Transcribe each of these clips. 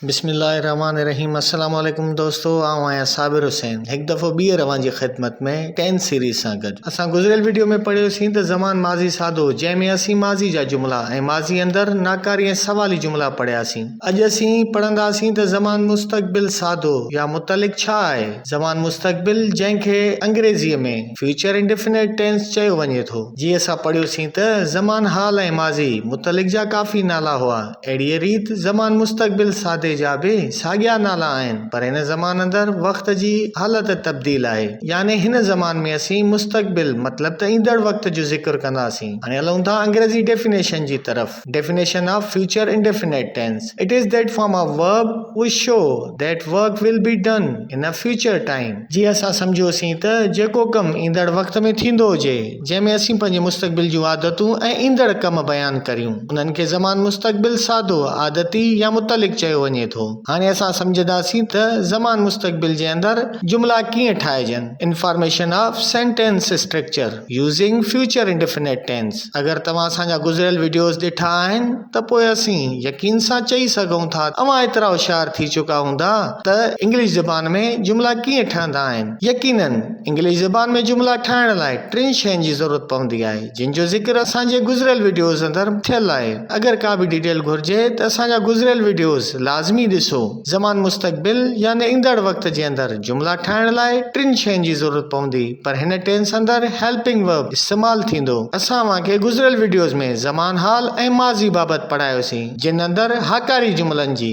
بسم الله الرحمٰن الرحيم السلام عليڪم دوستو آئون آهيان صابر حسين هڪ دفعو ٻيهر اوهان جي خدمت ۾ ٽين سيريز سان گڏ اسان گذريل وڊيو ۾ پڙهيو سين ته زمان ماضي سادو جنهن ۾ اسين ماضي جا جملا ۽ ماضي اندر ناڪاري ۽ سوالي جملا پڙهيا سين اڄ اسين پڙهندا سين ته زمان مستقبل سادو يا متعلق ڇا آهي زمان مستقبل جنهن کي انگريزي ۾ Future Indefinite Tense چيو وڃي ٿو جي اسان پڙهيو سين ته زمان حال ۽ ماضي متعلق جا ڪافي نالا هئا اهڙيء ريت زمان مستقبل ساڌي جا به ساڳيا نالا آهن، پر هن زمان اندر وقت جي حالت تبديل آهي، يعني هن زمان ۾ اسين مستقبل مطلب ته ايندڙ وقت جو ذڪر ڪنداسين. هاڻي هلون ٿا انگريزي ڊيفينيشن جي طرف، Definition of Future Indefinite Tense، It is that form of verb which show that work will be done in a future time، جيئن اسان سمجهيوسين ته جيڪو ڪم ايندڙ وقت ۾ ٿيندو هجي، جنهن ۾ اسين پنهنجي مستقبل جون عادتون ۽ ايندڙ ڪم بيان ڪريون. انهن کي زمان مستقبل سادو، عادتي يا متعلق چيو وڃي ٿو. هاڻي اسان سمجهنداسين ته زمان مستقبل جي اندر جملا ڪيئن ٺاهجن. Information of Sentence Structure Using Future Indefinite Tense اگر توهان اسان جا گذريل وڊيوز ڏٺا آهن ته پوء اسين يقين سان چئي سگهون ٿا ته اوهان ايترا هوشيار ٿي چڪا هوندا ته انگلش زبان ۾ جملا ڪيئن ٺهندا آهن. يقينن! انگلش زبان ۾ جملا ٺاهڻ لاء ٽن شين جي ضرورت پوندي آهي جن جو ذڪر اسان جي گذريل وڊيوز اندر ٿيل آهي اگر ڪا به ڊيٽيل گهرجي ته اسان جا گذريل وڊيوز لازمي ڏسو زمان مستقبل يعني ايندڙ وقت جي اندر جملا ٺاهڻ لاء ٽن شين جي ضرورت پوندي پر هن ٽينس اندر هيلپنگ ورب استعمال ٿيندو اسان اوهان کي گذريل وڊيوز ۾ زمان حال ۽ ماضي بابت پڙهايوسين جن اندر هاڪاري جملن جي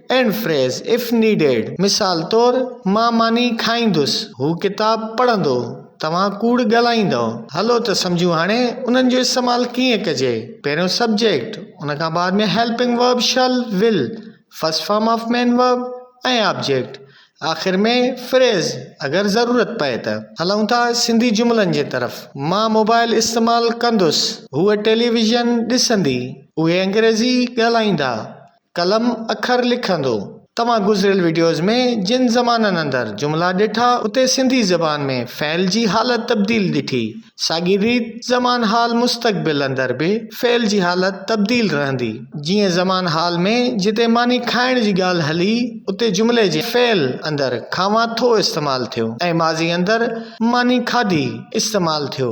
اينڊ فريز اف نيڊيڊ مثال طور مان ماني کائيندس هو ڪتاب پڙهندو توهان ڪوڙ ڳالهائيندؤ هلو ته سمجهون هاڻي انهن جو استعمال ڪيئن ڪجي پهريون سبجيڪٽ ان کان بعد ۾ helping verb shall will first form of main verb ۽ object آخر ۾ فريز اگر ضرورت پئي ته هلون ٿا سنڌي جملن جي طرف مان موبائل استعمال ڪندس هوء ٽيليويزن ڏسندي اهي انگريزي ڳالهائيندا قلم اکر لکندو. توهان گذريل وڊيوز ۾ جن زبانن اندر جملا ڏٺا اتي سنڌي زبان ۾ فعل جي حالت تبديل ڏٺي ساڳي ريت زمان حال مستقبل اندر به فعل جي حالت تبديل رهندي جيئن زمان حال ۾ جتي ماني کائڻ جي ڳالهه هلي اتي جملي جي فعل اندر کاوان ٿو استعمال ٿيو ۽ ماضي اندر ماني کاڌي استعمال ٿيو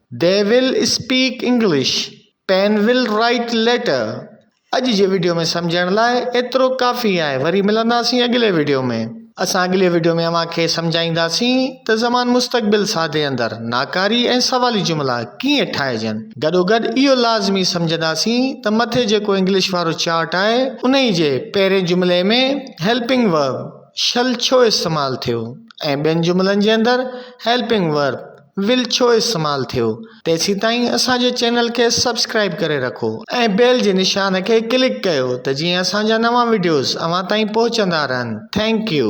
they will speak English, pen will write letter اڄ جي وڊيو ۾ سمجهڻ لاء ايترو ڪافي آهي وري ملنداسين اڳلي وڊيو ۾. اسان اڳلي وڊيو ۾ اوهان کي سمجهائينداسين ته زمان مستقبل ساده اندر ناڪاري ۽ سوالي جملا ڪيئن ٺاهجن. گڏوگڏ اهو لازمي سمجهنداسين ته مٿي جيڪو انگلش وارو چارٽ آهي انهي جي پهرين جملي ۾ هيلپنگ ورب Shall ڇو استعمال ٿيو ۽ ٻين جملن جي اندر هيلپنگ ورب ويل ڇو استعمال ٿيو تيسيتائين اسان جي چينل کي سبسڪرائيب ڪري رکو ۽ بيل جي نشان کي ڪلڪ ڪيو ته جيئن اسان جا نوان وڊيوز اوهان تائين پهچندا رهن ٿينڪ يو.